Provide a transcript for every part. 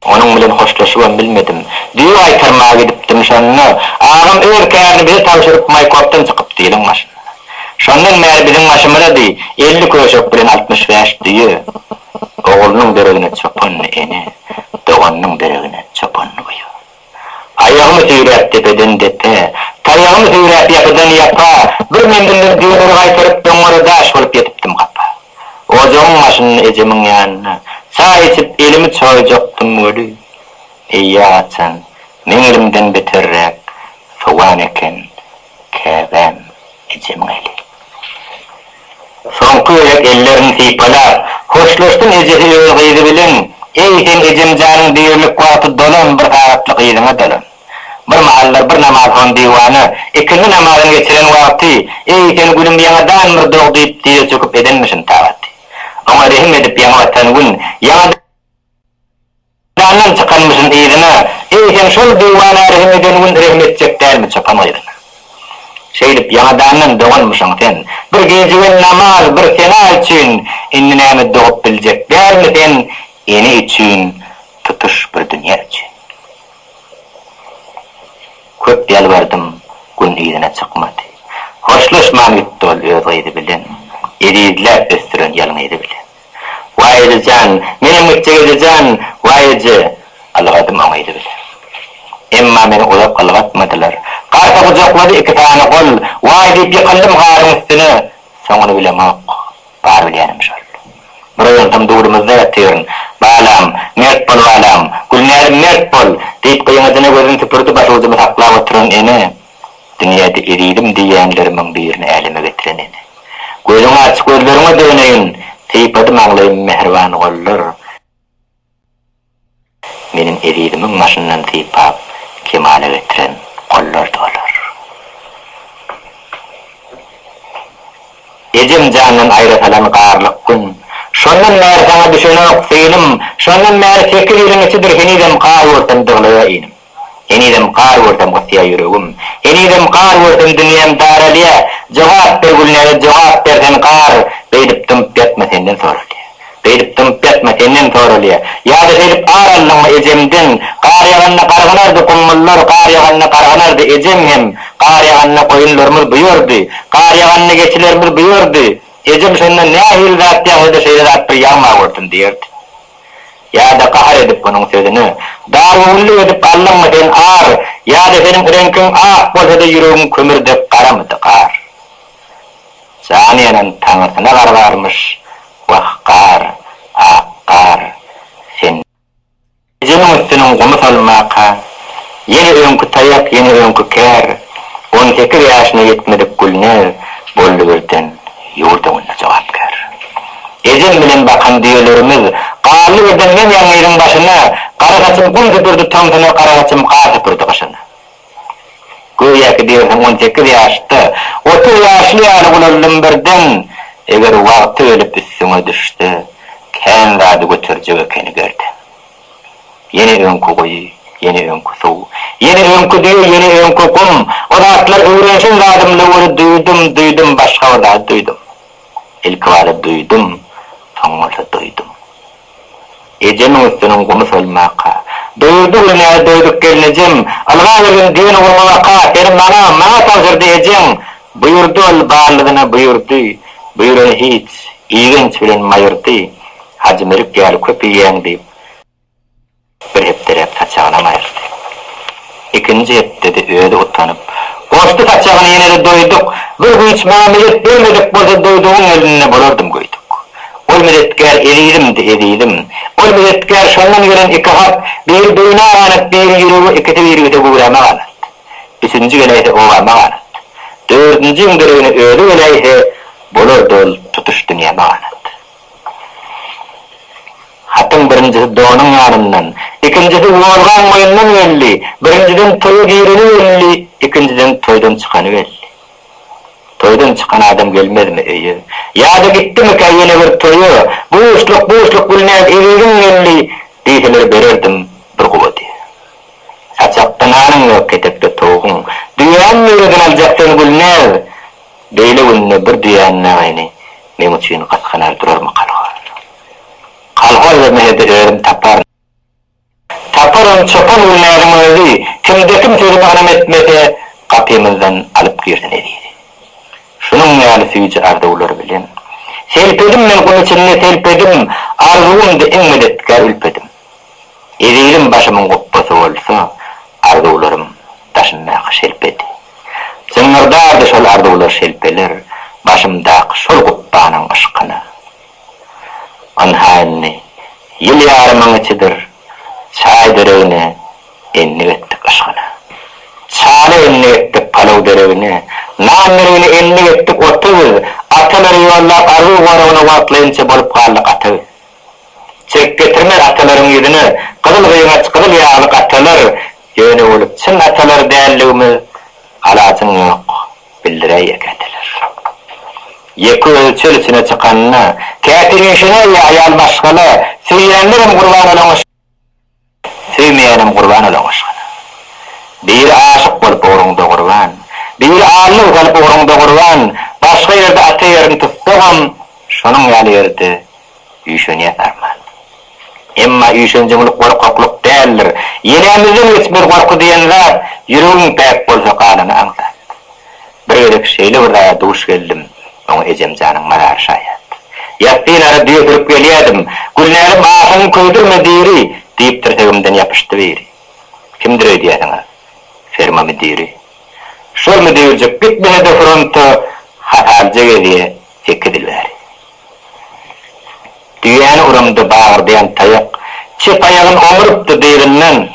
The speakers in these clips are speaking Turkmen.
Onuň bilen hoşlaşybam bilmedim. Düýe gaýtarmaga gidipdim, şonda, agam öz kärini bize tabşyryp, Maýkopdan çykypdy iliň maşyna. Şondan bäri biziň maşymyza deý, elli köşek bilen altmyş bäş düýe. Oglunyň deregine çopan ene, doganynyň deregine çopan uýa. Aýagymy süýräp depeden depe, Taýagymy süýräp ýapydan ýapa, Bir menzilden düýnüni gaýtaryp, Doňňara daş bolup ýetipdim gapa. Ojagyň başynda ejemiň ýanynda, Çaý içip elimi çoýjakdym weli, Eýýäm açan, meňzlimden beterräk sowan eken, Käbäm, ejem geldi. Soňky gezek ellerini sypalap, hoşlaşsyn ejesi öz gyzy bilen, Eý, sen ejemjanyň dirilik wagty dolan bir sagatlyk gyzyňa dolan. Bir mahallar bir namazhan diwana, ikindi namazyny geçiren wagty, Eý, sen gülüm ýaňadan bir dog diýip dize çöküp edenmişin tagaty. Oňa rehim edip ýaňa batan gün, ýaňadan. Jandan çykanmyşyn yzyna, eýsem şol diwana rehim eden gün rehim etjek dälmi çopan gyzyna. Şeýdip ýaňadandan doganmyşyň sen, bir gecigen namaz, bir sena üçin, indi näme dogup biljek dälmi sen ene üçin, tutuş bir dünýe üçin. Köp ýalbardym, gün yzyna çykmady. Hoşlaşman gitdi ol öz gyzy bilen, ezizläp ösdüren ýalňyzy bilen. Waýyjy jan, menem gitjek eje jan, waýyjy! Ylgadym oňa edibile. Emma meni uzak ylgatmadylar. Garry gujaklady iki sany gol, waý diýip ýykyldym garyň üstüne. Soňuny bilemok. Bar bilýänim şol. Bir oýansam durdumyzda ýatyryn. Balam, mert bol balam, Gülnäzim mert bol! diýip gyňajyna gözüni süpürdi başucumy saklap oturan ene. Dünýäde ezizim diýýänlerimiň birini äleme getiren ene. Gözüňi aç, gözleriňe döneýin, sypady maňlaýym mähriban gollar. Meniň ezizimiň başyndan sypap, kemala getiren gollardy olar. Ejem jandan aýra salan garlyk gün. Şondan bäri saňa düşenok, synym. Şondan bäri sekiz ýylyň içidir henizem gaýursam dyglaýa inim. Henizem gar görsem gysýa ýüregim Henizem gar görsem dünýäm daralýa Jogap ber Gülnäge jogap ber sen gar Beýdip dymyp ýatma senden soralýa Beýdip dymyp ýatma senden soralýa Ýa-da şeýdip ar aldyňmy ejemden Gar ýaganda gargynardy gummullar Gar ýaganda gargynardy ejem hem Gar ýaganda goýunlarymyz buýardy Gar ýaganda geçilerimiz buýardy Ejem şonda nähili zat ýagsa-da şeýle zat bir ýagma görsün diýerdi. Ýa-da gahar edip onuň sözüne, Darygüllük edip aldyňmy sen, ar? Ýa-da seniň reňkiň ak bolsa-da, ýüregiň kömür dek garamydy, gar? Jany ýanan taňrysyna gar barmyş, wah, gar, ak gar, sen. Gijäniň üstüniň gumy solmaka. Ýene öňki taýak, ýene öňki kär, On sekiz ýaşyna ýetmedik Gülnäz boldy birden ýurt öňünde jogapkär. Ejem bilen bakan düýelerimiz galdy birden men ýaly yzyň başyna, Gara saçym gum süpürdi tomsuna, gara saçym gar süpürdi gyşyna. Göýäki diýersiň on sekiz ýaşda, otuz ýaşly ýaly ulaldym birden, Eger wagty gelip üstüňe düşse, kän zady göterjek ekeni gerdem. Ýene öňki guýy, ýene öňki suw, ýene öňki düýe, ýene öňki gum. O zatlar öwrenşen zadym Löweli duýdum, duýdum, başga bir zady duýdum. Ilkibada duýdum, soň bolsa doýdum. Ejemiň üstüniň gumy solmaka. Doýurdy gül näze doýduk gelnejem. Ylga gelin düýeni gurmawaka. Seni maňa, maňa tabşyrdy ejeň. Buýurdy ol, barlygyna buýurdy. Buýrany hiç, igenç bilen maýyrdy. Hajy Melik ýaly köp iýýäň diýip, bir hepdeläp saçagyna gaýyrdy. Ikinji hepdede özi utanyp, Goşdy saçagyny ýene-de doýduk. Bir güýç maňa medet bermedik bolsa doýdugyň elinde bolardym göýdük. Ol medetkär ezizimdi, ezizim. Ol medetkär şondan gelen iki hat, biri beýnä ganat, biri ýürege, ikisi birgide göwräme ganat. Üçünji geläýse obama ganat. Dördünjiň deregine özi geläýse, bolardy ol tutuş dünýäme ganat. Hatyň birinjisi donuň ýanyndan, ikinjisi wolgaň boýundan belli, birinjiden toýa gireni belli, ikinjiden toýdan çykany belli. Toýdan çykan adam gelmezmi öýe? Ýa-da gitdimikä ýene bir toýa? Buşluk, buşluk Gülnäz eziziň geldi diýseler bererdim bir guwady. Saçakda nanyň ýok, ketekde towugyň. Düýäň nireden aljak seni Gülnäz? Beýle günde bir diýänmäňini meň üçin gysganar durarmy kolhoz? Kolhoz we Mehedi özüm taparyn. Taparyn, çopan Gülnäziň özi, kimde-kim sözüme ynam etmese, gapymyzdan alyp girsin ezizi. Şunuň ýaly süýji arzuwlar bilen. Selpedim men gum içinde, selpedim, arzuwymdy iň medetkär ülpedim. Ezizim başymyň gupbasy bolsa, arzuwlarym daşymdaky şelpedi. Zyňňyrdardy şol arzuwlar şelpeler başymdaky şol gupbanyň yşkyna. Ynha indi ýyl ýarymyň içidir, çaý deregine endik etdik yşgyna. Çala endik etdik palaw deregine, nan deregine endik etdik ota biz, atalary ýollap arzuw goragyna wagtlaýynça bolup galdyk ata biz. Çek getirme atalaryň ýüzüne, Gyzyl gyýgaç, gyzyl ýaglyk atalar, Ýöne bolup çyn atalar däldigimiz alajyň ýok, bildiräý ýeke eteler. Ýeke özi çöl içine çykanda, Käte üýşenär ýa aýal başgala, Söýýänlerem gurban olaňa, Söýmeýänem gurban ola goşgyna. Biri aşyk bolup ugruňda gurban, Biri allygy salyp ugruňda gurban, Başga ýerde ata ýerin tutsagam, Şonuň ýaly ýerde üýşenýäs arman. Emma üýşenjeňlik gorkaklyk däldir, Ýelämizden geçmez gorky diýen zat, Ýüregiň päk bolsa galany aňsat. Bir gezek şeýle bir zada duş geldim, oňa ejemjanyň mazary şaýat. Ýatdynara düýe sürüp gelýädim, Gülnälim aşygyňy köýdürme diri! diýip tirsegimden ýapyşdy biri. Kimdir öýdýärsiňiz? Ferma müdiri. Şol müdirjik gitmese-de fronta hasalyja gezýä sekiz ýyl bäri. Düýäni uramda bagyrdaýan taýak çep aýagyn oňurypdy dyryndan.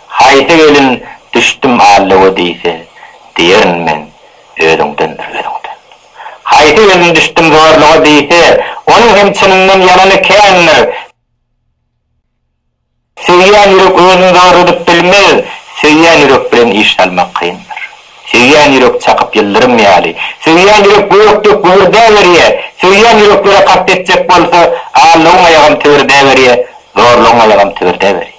Haýsy gelin düşdüm allowa diýse, diýerin men, Özüňdendir, özüňden. Haýsy gelin düşdüm zorluga diýse, onuň hem çynyndan ýalany kändir. Söýýän ýürek özüni zorladyp bilmez, söýýän ýürek bilen iş salmak kyndyr. Söýýän ýürek çakyp ýyldyrym ýaly, söýýän ýürek gök dek gübürdäberýä, söýýän ýüreklere kast etjek bolsa, allowyň aýagam tübürdäberýä, zorlugyň aýagam tübürdäberýä.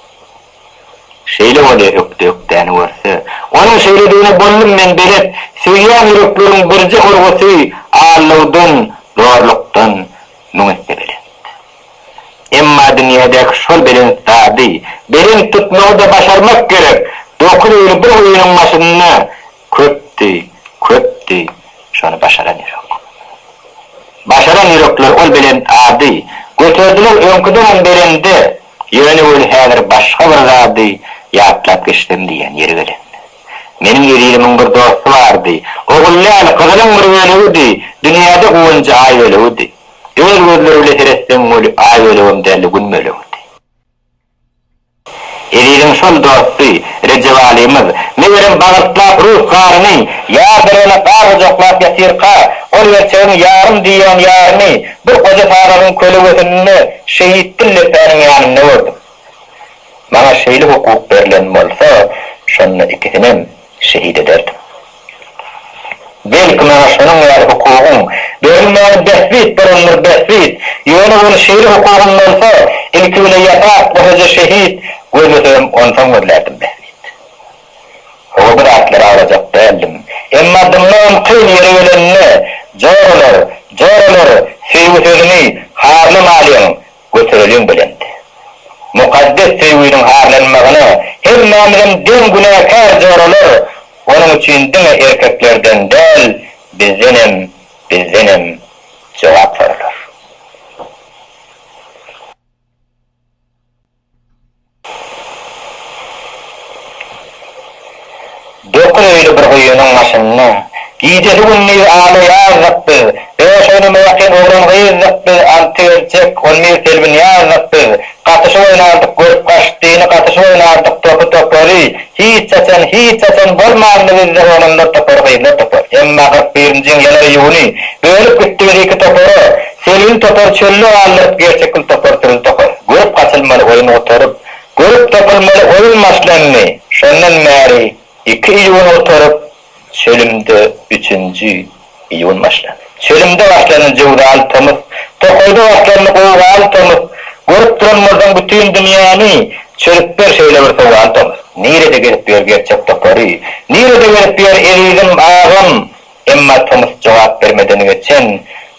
Şeýle bolýa ökde ökdäni görse. Onuň şeýledigine boldum men belet. Söýýän ýürekleriň birje urgusy allawdan, zorlukdan müň esse belent. Emma dünýädäki şol belent zady belent tutmagy-da başarmak gerek. Dokuz ýyl bir guýynyň başynda Köpdi, köpdi, şony başaran ýürek. Başaran ýürekler ol belent ady, Göterdiler öňküdenem belende, Ýöne weli häzir başga bir zady Ýatlap geçsem diýýän ýeri gelende. Meniň ezizimiň bir dosty bardy, Ogul däl, gyzynyň bir bölegidi, Dünýäde guwanjy aý bölegidi. Öz gözleri bile seretseň weli, Aý bölegem däldi, gün bölegidi. Eziziň şol dosty, Rejebalymyz, megerem, bagyrstlap rus garyny, ýar derene gar gujaklap ýatyrka, ol gerçegiň ýarym diýýän ýaryny bir goja sagagyň kölegesinde şehit Dil lepäniň ýanynda gördüm. Maňa şeýle hukuk berlen bolsa, şonda ikisinem. şehit ederdim. Belki, maňa şonuň ýaly hukugyň berilmegini bähbit bolandyr, bähbit. Ýöne ol şeýle hukugym bolsa, ilki bile ýasap, goşaja şehit gözlesegem, onsoň gözlärdim, bähbit. Hawa, bu zatlary aglajak däldim. Emma dymlygym kyn ýere gelende, Joralar, joralar, söýgi sözüni harlamalyň! Götereliň belent. Mukaddes söýgüniň harlanmagyna hemmämizem deň günäkär joralar, onuň üçin diňe erkeklerden däl, bizdenem, bizdenem jogap soralar. Dokuz öýli bir guýynyň başynda. Gijesi-gündizi alaýardyk biz. Bäş ony mäkäm oglan-gyzdyk biz, Alty erkek, on bir selbin ýazdyk biz. Gatyşyp oýnardyk görüp-gaşytdyny, Gatyşyp oýnardyk topy-topary. Hiç haçan, hiç haçan bolmandy bizde Oglanlar topary, gyzlar topary. Emma kyrk birinjiň ýanar ýuny, Bölüp gitdibiz iki topara. Selin topar çölde galdyryp gerçekil topar sürün tokar. Görüp gaçylmaly oýun gutaryp, görüp tapylmaly oýun başlandy. Şondan bäri iki iýun gutaryp, çölümde üçünji iýun başlandy. Çölümde başlandy jöwzaly tomus, tokaýda başlandy gowgaly tomus. Görüp duran bolsaň bütin dünýäni, çözüp ber şeýle bir sowaly tomus. Nirede gezip ýör gerçek topary, nirede gezip ýör ezizim, agam? Emma tomus jogap bermeden geçen,